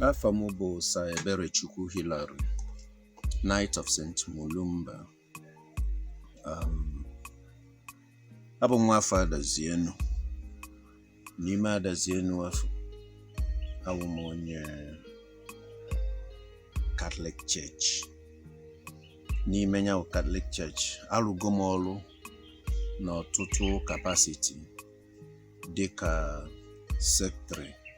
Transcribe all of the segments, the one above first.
Afa m bụ Sir Eberechukwu Hillary, Knight of St. Mulumba. Um, abụ m nwa afọ Adazienu. N'ime Adazienu afụ, abụ m onye Catholic Church. N'ime ya bụ Catholic Church, arụgo m ọrụ n'ọtụtụ capacity dịka secretary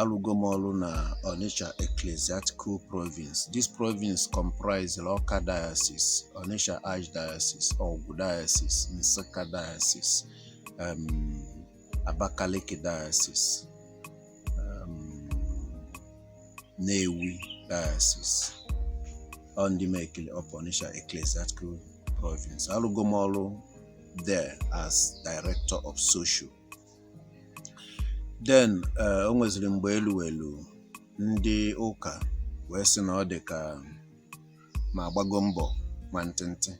Alụgo m ọrụ na Onitsha Ecclesiastical Province. This province comprises Awka Diocese, Onitsha Archdiocese, Ogwu Diocese, Nsukka Diocese, um, Abakaliki Diocese, um, Nnewi Diocese, Ondimekili of Onitsha Ecclesiastical Province. Alụgo m ọrụ there as Director of Social. then eh, o nweziri mgbe elu elu ndị ụka wee sị na ọ dị ka m agbago mbọ nwantịntị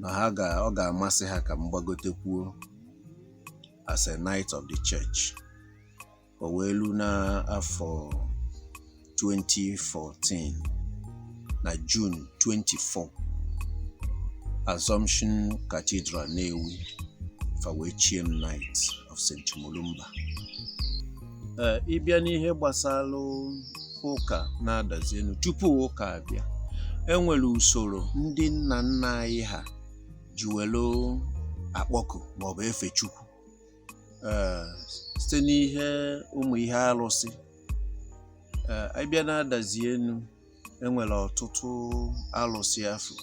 na ha ga ọ ga-amasị ha ka m gbagotekwuo as a knight of the church o wee lu n'afọ 2014 na June 24 Assumption Cathedral Nnewi fa wee chie m Knight of St. Mulumba ee ịbịa n'ihe gbasara ụka na Adazienu tupu ụka abịa enwere usoro ndị nna nna anyị ha ji were akpọku maọbụ efe Chukwu ee site n'ihe ụmụ ihe arụsị ee anyị bịa na Adazienu enwere ọtụtụ arụsị afụ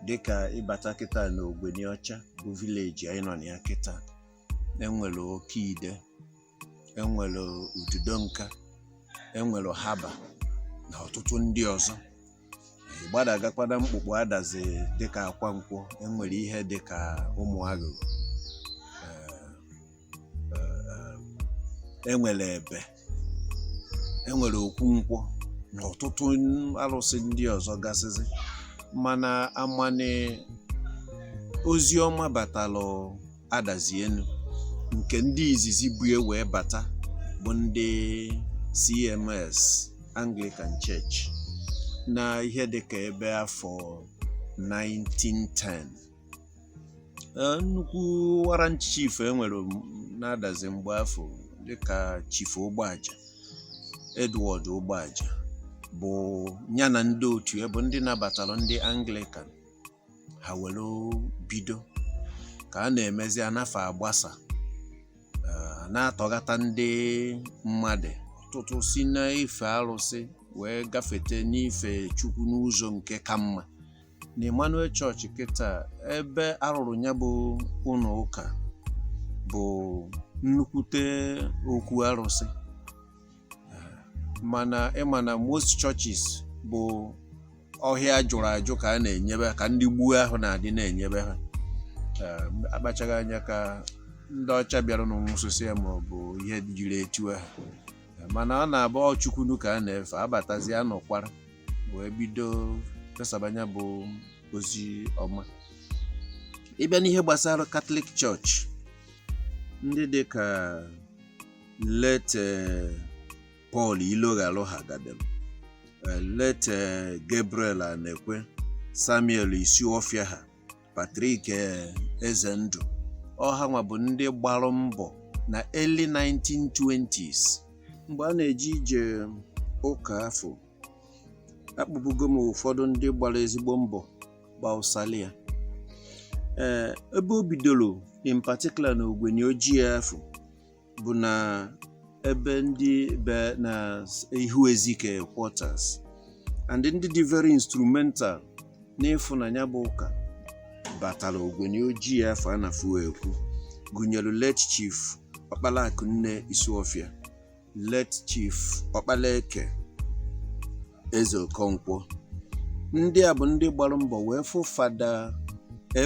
dịka ịbata kịta na Ogweniọcha bụ village anyị nọ na ya kịta enwere Okeide enwere Ududonka enwere Haba na ọtụtụ ndị ọzọ Ị gbadagakwa na mkpukpu Adazi dịka Akwankwọ enwere ihe dịka Ụmụagụ Ee, enwere Ebe enwere Okwu Nkwọ na ọtụtụ arụsị ndị ọzọ gasịzi mana amani ozi ọma batalụ Adazienu nke ndị izizi bu e wee bata bụ ndị CMS Anglican Church na ihe dịka ebe afọ 1910 Eh, nnukwu warrant chief enwere na Adazi mgbe afụ dịka Chief Ụgbọaja Edward Ụgbọaja bụ ya na ndị otu ya bụ ndị nabatara ndị Anglican ha were bido ka a na-emezi ana fa agbasa eh, na-atọghata ndị mmadụ ọtụtụ si n'ife arụsị wee gafete n'ife Chukwu n'ụzọ nke ka mma na Emmanuel Church kịta ebe arụrụ ya bụ ụlọ ụka bụ nnukwute okwu arụsị mana ị ma na most churches bụ ọhịa jụrụ ajụ ka a na-enyebe ka ndị gboo ahụ na-adị na-enyebe ha akpachaghị anya ka ndị ọcha bịaranụ nwụsịsịa ma ọ bụ ihe dịrị etu ahụ mana ọ na-abụ ọ chukwunu ka a na-efe a batazia nọkwara wee bido fesaba nya bụ ozi ọma ị bịa n'ihe gbasara Catholic Church ndị dị ka late Paul Iloghalụ ha gadem late Gabriel Anekwe Samuel Isiọfịa ha Patrick eh, Ezendụ ọ hanwa bụ ndị gbara mbọ na early 1920s mgbe a na-eji ije ụka afọ akpọbugo m ụfọdụ ndị gbara ezigbo mbọ gbasalụ ya ee ebe o bidoro in particular na ogbenye ojii afọ bụ na ebe ndị be na ihu ezike quarters and ndị dị very instrumental n'ịfụ na nya bụ ụka batara ogbenye ojii afọ a na-afụ ekwu gụnyere late chief ọkpala akụnne Isiọfịa late chief ọkpala eke Eze Okonkwo ndị a bụ ndị gbara mbọ wee fụ fada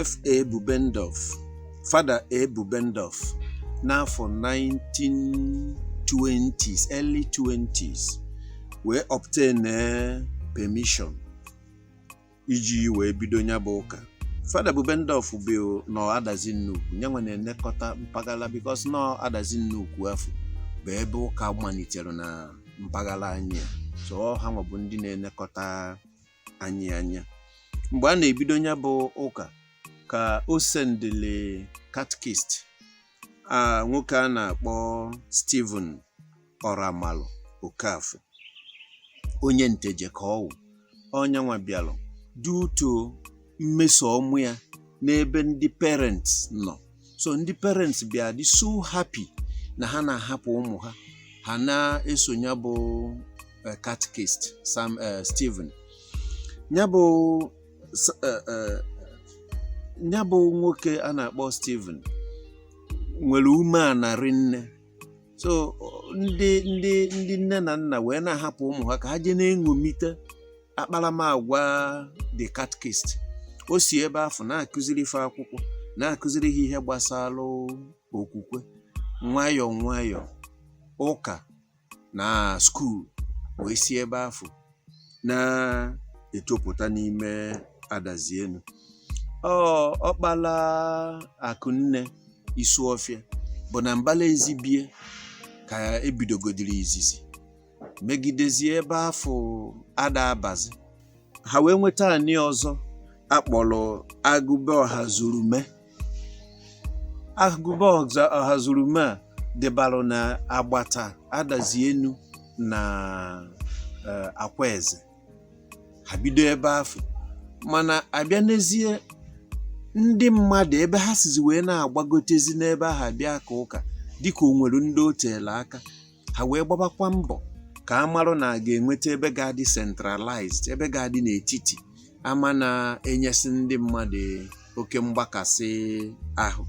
FA Bubendorf fada A Bubendorf n'afọ 1920s early 20s wee obtain eh, permission iji wee bido nya bụ ụka fada Bubendorf bụ nọ adazi nnukwu nyanwa na-elekọta mpaghara because na ọ adazi nnukwu afọ bụ ebe ụka malitere na mpaghara anyị a. so ọ hanwa bụ ndị na-elekọta anyị anya mgbe a na-ebido nya bụ ụka ka o sendịlị catechist a nwoke a na-akpọ Stephen Oramalụ Okafor onye nteje ka ọ wụ ọ nyanwa bịalụ due to mmeso ọma ya n'ebe ndị parents nọ so ndị parents bịa dị so happy na ha na-ahapụ ụmụ ha ha na-eso nya bụ eh, catechist Sam eh, Stephen nya bụ S- eh, eh, nya bụ nwoke a na-akpọ Stephen nwere umeana rinne so ọ- ndị ndị ndị nne na nna wee na-ahapụ ụmụ ha ka ha jee na-eṅomite akparamagwa the catechist o si ebe afọ na-akụziri ife akwụkwọ na-akụziri ha ihe gbasara okwukwe nwayọọ nwayọọ ụka na skuul wee si ebe afụ na-etopụta n'ime adazi enu ọ ọkpala akụnne isuọfịa bụ na mbala ezi be ya ka e bidogodiri izizi megidezie ebe afụ ada abazi ha wee nweta anị ọzọ a kpọrọ agụ be ọhazurume agụ be ọhazurume a dịbalụ na agbata adazi enu na eh, akwaeze ha bido ebe afụ mana a bịa n'ezie ndị mmadụ ebe ha sizi wee na-agbagotezi n'ebe ahụ abịa aka ụka dịka o nwere ndị o teela aka ha wee gbabakwa mbọ ka a marụ na a ga-enweta ebe ga-adị centralized ebe ga-adị n'etiti ama na-enyesi ndị mmadụ oke mgbakasị ahụ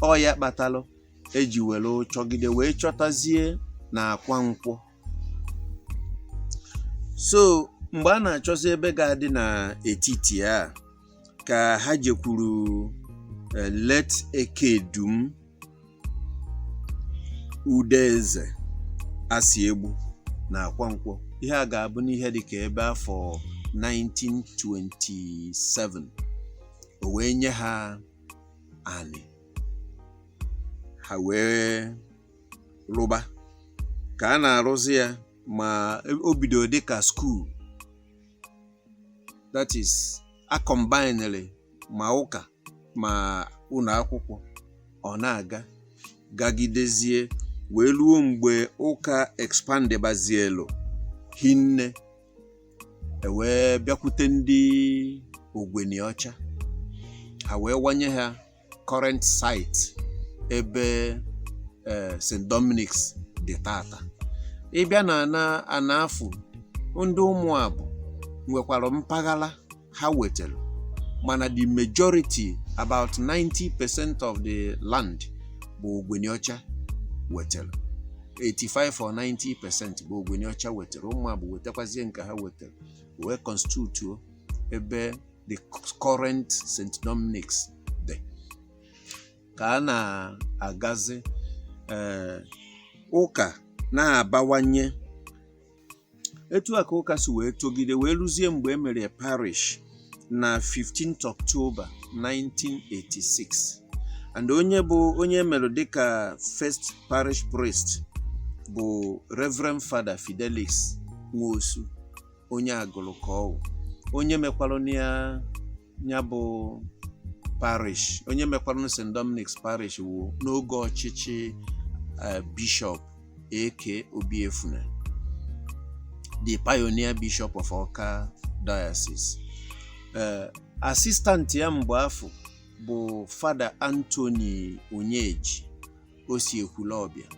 ọ ya kpatalụ e ji were chọgide wee chọtazie na akwankwọ so mgbe a na-achọzi ebe ga-adị n'etiti a ka ha jekwuru eh, late ekedum udeze asiegbu na akwankwọ ihe a ga-abụ n'ihe dịka ebe afọ 1927 o wee nye ha anị ha wee rụba ka a na-arụzi ya ma o bidoro dịka skuul that is a combinere ma ụka ma ụlọ akwụkwọ ọ na-aga gagidezie wee ruo mgbe ụka expandebazielu hinne e wee bịakwute ndị ogweni ọcha ha wee wanye ha current site ebe eh, St. Dominic's dị tata ị bịa na ana afụ ndị ụmụabụ nwekwara mpaghara ha wetara mana the majority about 90 percent of the land bụ ogweni ọcha wetara 85 or 90 percent bụ ogweni ọcha wetara ụmụabụ wetakwazie nke ha wetara wee constitute ebe the current St. Dominic's dị ka a na-agazi eh, ụka na-abawanye etu a ka ụka si wee togide wee ruzie mgbe e mere parish na 15th October 1986 and onye bụ onye e mere dịka first parish priest bụ Reverend Father Fidelis Nwosu onye Agụlụ ka ọ wụ onye mekwarụ ya ya bụ parish onye mekwarụ St Dominic's parish wụ n'oge ọchịchị eh, bishọp A.K. Obiefuna the pioneer bishop of Ọka diocese eh, assistant ya mgbe afụ bụ fada Anthony Onyeji o si Ekwulọbịa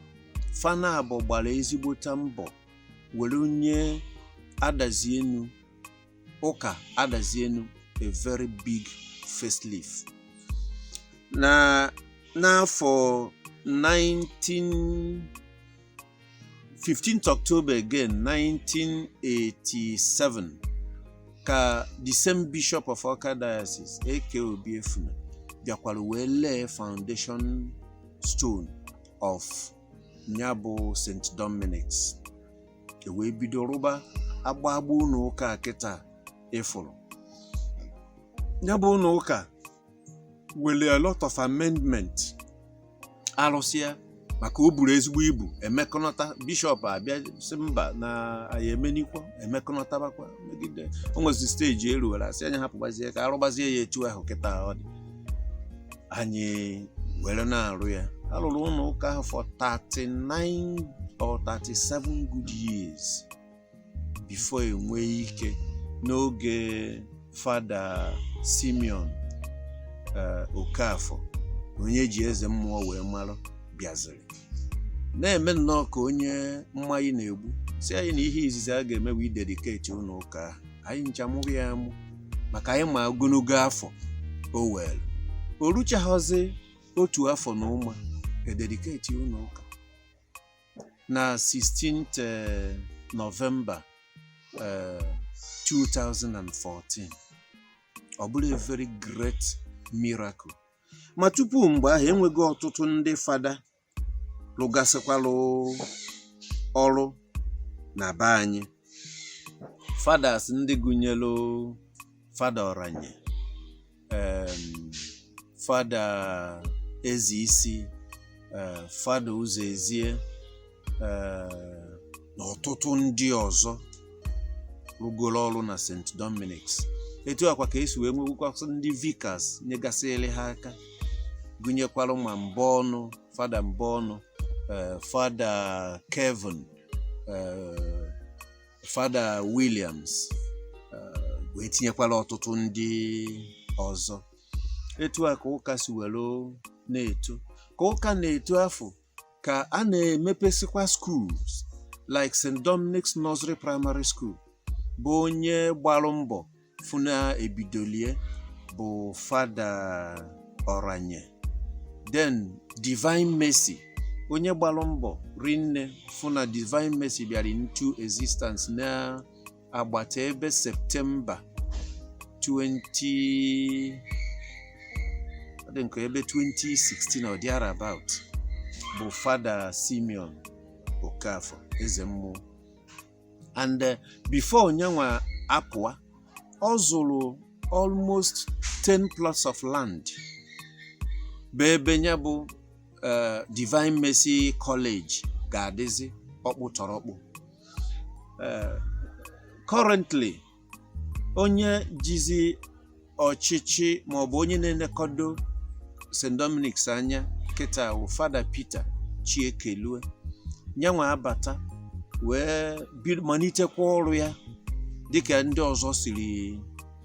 fa naabọ gbara ezigbota mbọ were nye Adazi-Enu ụka Adazi-Enu a very big facelift na n'afọ 19 15th October again 1987 ka the same bishop of Awka diocese A.K. Obiefuna bịakwara wee lay foundation stone of nya bụ St. Dominic's e wee bido rụba agba agba ụlọ ụka kịta ị fụrụ nya bụ ụlọ ụka were a lot of amendment a rụsịa maka o buru ezigbo ibu e mekọnata bishọp abịa sị mba na anyị emenikwa emekọnatabakwa megide o nwezi stage e ru were a sị anyị hapụgbazie ka a rụgbazie ya etu ahụ kịta ọ dị anyị were na-arụ ya a rụrụ ụlọ ụka ahụ for 39 or 37 good years before e nwee ike n'oge fada Simeon eh, Okafọ onye e ji Eze Mmụọ wee mara bịaziri na-eme nnọọ ka onye mmayị na-egbu sị anyị na ihe izizi a ga-eme wee dedicate ụlọ ụka ahụ anyị ncha mụrụ ya amụ maka anyị ma ogologo afọ o were o ruchaghịzi otu afọ na ụma e dedicate ụlọ ụka na 16th eh, November eh, 2014 ọ bụrụ a very great miracle ma tupu mgbe ahụ enweghị ọtụtụ ndị fada lụgasịkwalụ ọrụ na be anyị fathers ndị gụnyelụ fada Ọranye em, fada Ezeisi eh, fada Ụzọezie eh, na ọtụtụ ndị ọzọ rụgoro ọrụ na St. Dominic's etu a kwa ka e si wee nwewukwasị ndị vicars nyegasịrị ha aka gụnyekwara ma Mbaọnụ fada Mbaọnụ eh, fada Kevin eh, fada Williams eh, wee tinyekwara ọtụtụ ndị ọzọ etu a ka ụka si were na-eto ka ụka na-eto afọ ka a na-emepesikwa schools like St. Dominic's Nursery Primary School bụ onye gbalụ mbọ fụ na ebidolie bụ Fada Oranye then Divine Mercy onye gbalụ mbọ rinne fụ na Divine Mercy bịara into existence na agbata ebe septemba 20 ọ dị nke ebe 2016 or thereabout bụ Fada Simeon Okafọ eze mmụọ and eh, before nyanwa apụa ọ zụrụ almost 10 plots of land bụ ebe nya bụ eh, divine mercy college ga-adịzi ọkpụtọrọkpụ eh, currently onye jizi ọchịchị maọbụ onye na-elekọdo St. Dominic's anya kịta bụ Fada Peter Chiekelue nyanwa abata wee malitekwa ọrụ ya dịka ndị ọzọ siri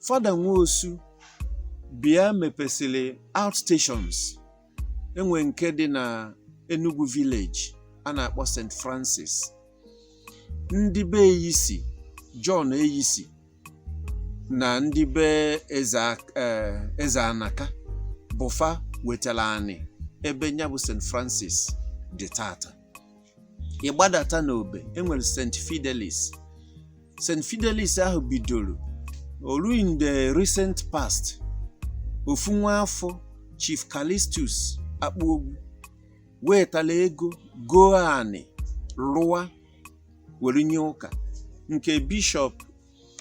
Fada Nwosu bịa mepesịrị outstations e nwee nke dị na Enugwu village a na-akpọ St. Francis ndị be Eyisi John Eyisi na ndị be eze Ak- eh, eze Anaka bụ fa wetara anị ebe nya bụ St. Francis dị tata ị gbadata n'Obe enwere St. Fidelis St. Fidelis ahụ bidoro ọrụ in the recent past ofu nwa afọ Chief Callistus Akpuogwu wetara ego goo anị rụwa were nye ụka nke Bishọp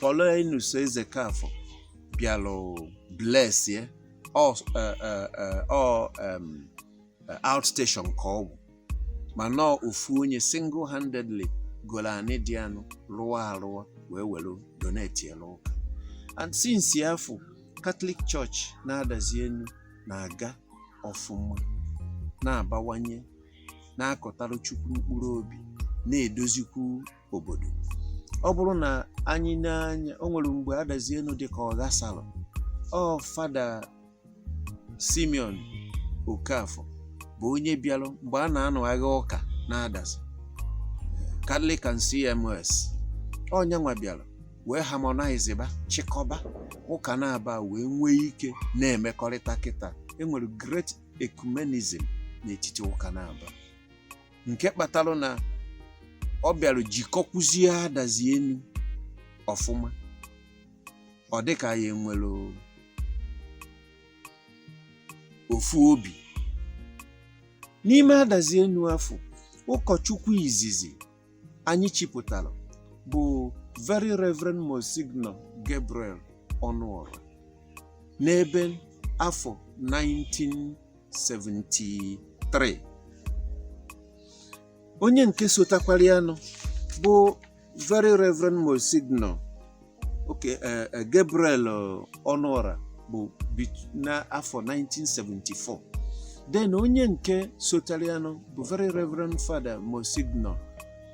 Paulinus Ezeokafọ bịara bless ya ọ ọ ọ ọ outstation ka ọ bụ mana ọ ofu onye single handedly goro anị dị anụ rụwa arụwa wee were donate ya n'ụka and since afụ Catholic Church n'Adazi Enu na-aga ọfụma na-abawanye na-akọtara Chukwu mkpụrụ obi na-edozikwu obodo ọ bụrụ na anyị nee anya o nwere mgbe Adazi Enu dị ka ọ ghasara ọ Fada Simeon Okafor bụ onye bịara mgbe a na-anụ agha ụka n'Adazi Catholic and CMS ọ nyanwa bịara wee harmonize ba chịkọba ụka naabọ wee nwee ike na-emekọrịta kịta enwere great ecumenism n'etiti ụka naabọ nke kpatara na ọ bịara jikọkwuzie Adazi Enu ọfụma ọ dị ka anyị nwere ofu obi n'ime adazi enu afụ ụkọchukwu izizi anyị chipụtara bụ very reverend monsignor gabriel ọnụọra n'ebe afọ 1973 onye nke sotakwara ya nụ bụ Very Reverend Monsignor okay, eh, eh, Gabriel eh, Ọnụọra bụ bit- n'afọ 1974 then onye nke sotara ya nụ bụ Very Reverend Father Monsignor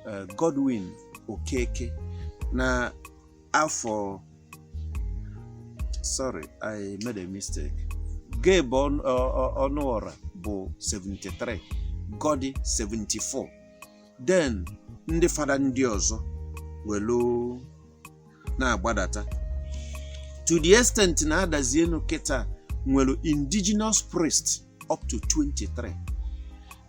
eh, Godwin Okeke na afọ sorry I made a mistake Gabe Ọnụ- Ọ- Ọ- Ọnụọra bụ 73 Godi 74 then ndị fada ndị ọzọ welu na-agbadata to the extent na adazi enu kịta nwere indigenous priest up to 23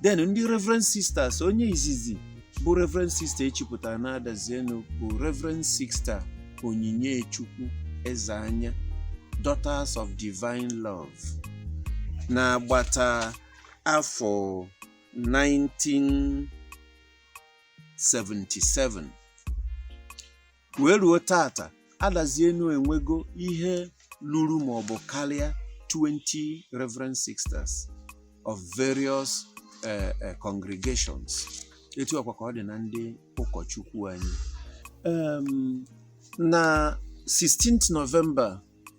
then ndị reverend sisters onye izizi bụ reverend sister echipụtara na adazi enu bụ reverend sister onyinyechukwu ezeanya daughters of divine love na agbata afọ 1977 wee ruo taata adazi enu enwego ihe luru maọbụ karịa 20 reverend sisters of various eh, eh, congregations etu a kwa ka ọ dị na ndị ụkọchukwu anyị Em, na 16th November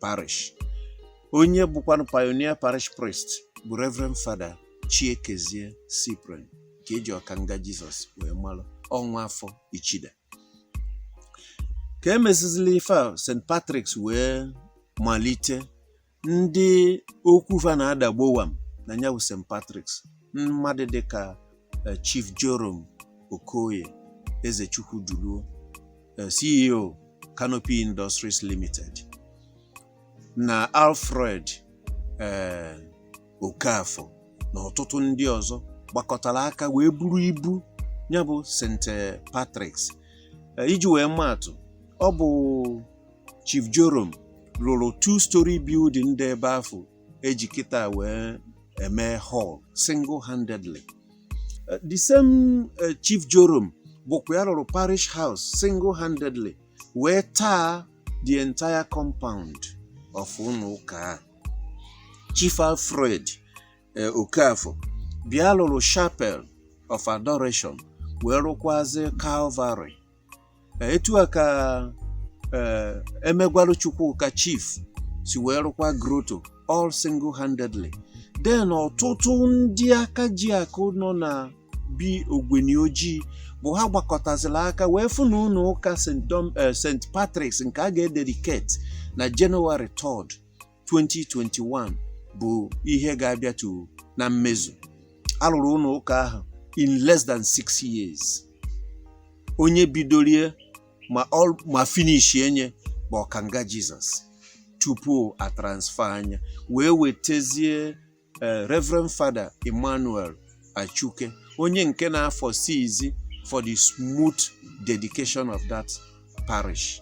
parish onye bụkwanụ pioneer parish priest bụ reverend father chiekezie cyprian ka eji ọkanga jizọs wee malụ ọ nwa afọ ichida ka emesịzịlị ife a st patrick's wee malite ndị okwu fa na-ada gbowam na nya bụ st patrick's mmadụ dịka eh, Chief Joram Okoye Ezechukwu Duluo eh, CEO Canopy Industries Limited na Alfred eh, Okafor na ọtụtụ ndị ọzọ gbakọtara aka wee buru ibu nya bụ St. Patrick's eh, iji wee maatụ ọ bụ Chief Joram lụrụ two-story building dị ebe afụ eji kịta wee eme hall single handedly eh, the same eh, chief joram bụkwa ya lụrụ parish house single handedly wee taa the entire compound of ụlọ ụka chief alfred eh, okafọ bịa lụrụ chapel of adoration wee rụkwazi calvary Eh, etu a ka eh, emegwarụ Chukwuka chief si wee rụkwa grotto all single handedly then ọtụtụ ndị aka ji akụ nọ na bi Ogweni Oji bụ ha gbakọtaziri aka wee fụ na ụnọ ụka St. Dom- eh, St. Patrick's nke a ga-ededicate na Jenụwarị 3rd 2021 bụ ihe ga-abịatu na mmezu a rụrụ ụnọ ụka ahụ in less than 6 years onye bidorie ma ọ ma finishie nye bụ Ọkanga Jizọs tupu a transferaa nya wee wetezie eh, Reverend Father Emmanuel Achuke onye nke na-aforeseezi for the smooth dedication of that parish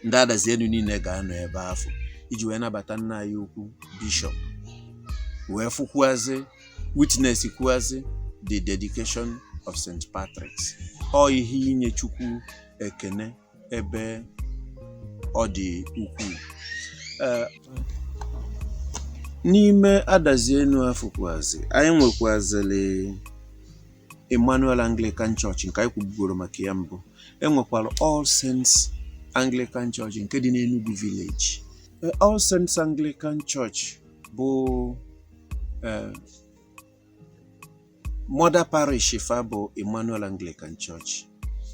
ndị Adazi Enu niile ga-anọ ebe afụ iji wee nabata nna anyị ukwu bishọp wee fụkwuazị witness kwuazị the dedication of St. Patrick's ọ ihe inye Chukwu ekene ebe ọ dị ukwuu eh, n'ime Adazi Enu afụ kwazi anyị nwekwazili Emmanuel Anglican Church nke anyị kwubugoro maka ya mbụ e nwekwara All Saints Anglican Church nke dị n'Enugwu village eh, All Saints Anglican Church bụ eh, mother parish fa bụ Emmanuel Anglican Church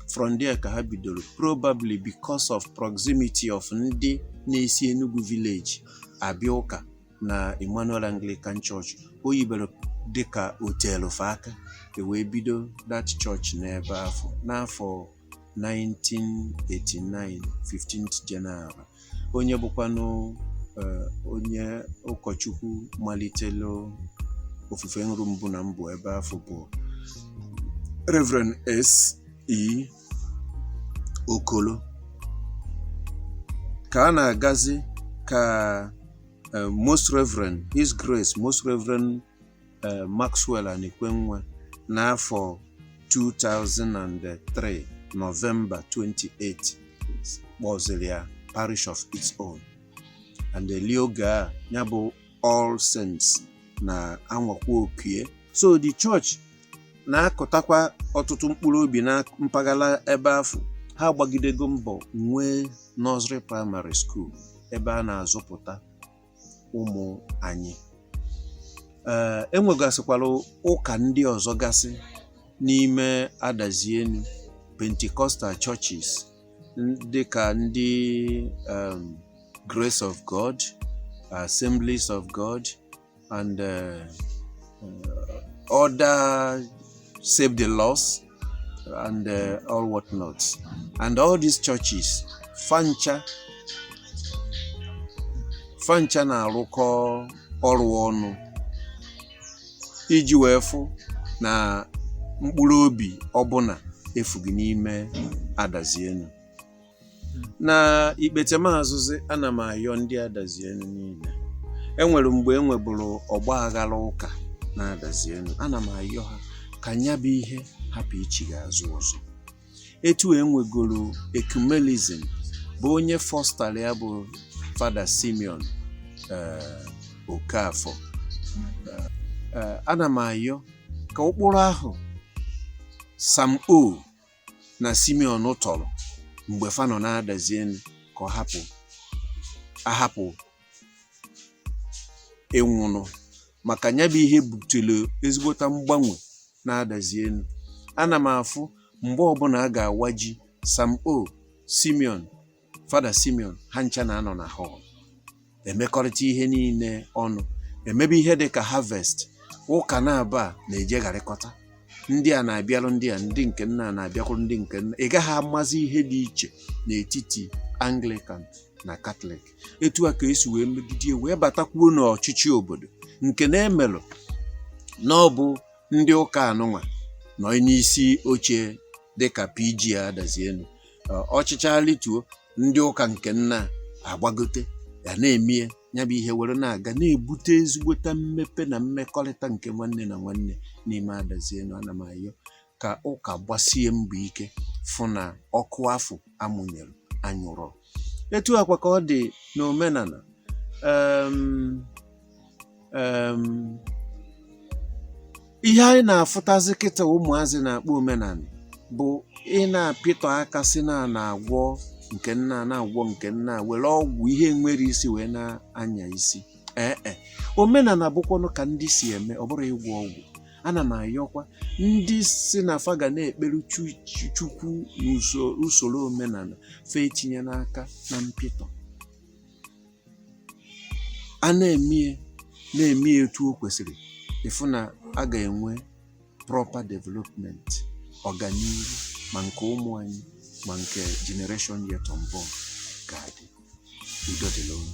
from there ka ha bidoro probably because of proximity of ndị na-esi Enugwu village abịa ụka na Emmanuel Anglican Church o yibere dịka o telu fa aka e wee bido that church n'ebe afụ n'afọ 1989 15th January onye bụkwanụ eh, onye ụkọchukwu malitelu ofufe nru mbụ na mbụ ebe afụ bụ Reverend S. E. Okolo ka a na-agazi ka eh, Most Reverend His Grace Most Reverend eh, Maxwell Anikwenwa n'afọ 2003 Nọvemba 28 kpọziri ya parish of its own and eli oge a nya bụ All Saints na-anwakwa oko ye so the church na-akụtakwa ọtụtụ mkpụrụ obi na mpaghara ebe afụ ha agbagidego mbọ nwee nursery primary school ebe a na-azụpụta ụmụ anyị ee e nwegasịkwara ụka ndị ọzọ gasị n'ime Adazi Enu Pentecostal churches dịka ndị um, Grace of God Assemblies of God and uh, uh, other Save the Lost and uh, all what not and all these churches fancha fancha na-arụkọ ọrụ ọnụ iji wee fụ na mkpụrụ obi ọbụna efughị n'ime Adazi-Enu na ikpetemazụzi ana m ayọ ndị Adazi-Enu niile e nwere mgbe e nweburu ọgba aghara ụka na Adazi-Enu ana m ayọ ha ka nya bụ ihe hapụ ichigha azụ ọzọ etu e nwegoro ecumenism bụ onye fọstara ya bụ fada Simeon eh, Okafor Eh, ana m ayọ ka ụkpụrụ ahụ Sam O na Simeon tọrọ mgbe fa nọ na Adazi-Enu ka ọ hapụ ịnwụnụ maka nya bụ ihe butere ezigbota mgbanwe na Adazi-Enu ana m afụ mgbe ọbụna a ga-awa ji Sam O Simeon fada Simeon ha ncha na-anọ na họl emekọrịta ihe niile ọnụ emebe ihe dị ka harvest ụka naabọ na-ejegharịkọta ndị a na-abịarụ ndị a ndị nke nna na-abịakwuru ndị nke nna ị gaghị amazi ihe dị iche n'etiti anglican na katọlik etu a ka e si wee megide wee batakwuo n'ọchịchị obodo nke na-emelụ na ọ bụ ndị ụka anụnwa nọ n'isi oche dịka PG Adazi-Enu ọ chịcha lituo ndị ụka nke nna agbagote ya na-emie ya bụ ihe were na-aga na-ebute ezigbota mmepe na mmekọrịta nke nwanne na nwanne n'ime Adazi-Enu ana m ayọ ka ụka gbasie mbọ ike fụ na ọkụ afụ a mụnyere anyụrọ etu a kwa ka ọ dị n'omenana um, um ihe anyị na-afụtazi kịta ụmụazị na-akpọ omenana bụ ị na-apịtọ aka sị na na-agwọ nke nna na-agwọ nke nna were ọgwụ ihe nwere isi wee na-anya isi ee e. omenana bụkwanụ ka ndị si eme ọ bụrọ ịgwọ ọgwụ ana m ayọkwa ndị sị na fa ga na-ekpere Chukwu n'usoro omenana fa etinyena aka na mpịtọ a na-eme ya na-eme ya etu o kwesịrị ịfụ na a ga-enwe proper development ọganiru ma nke ụmụ anyị ma nke generation yet unborn ga-adị udo dịrị unu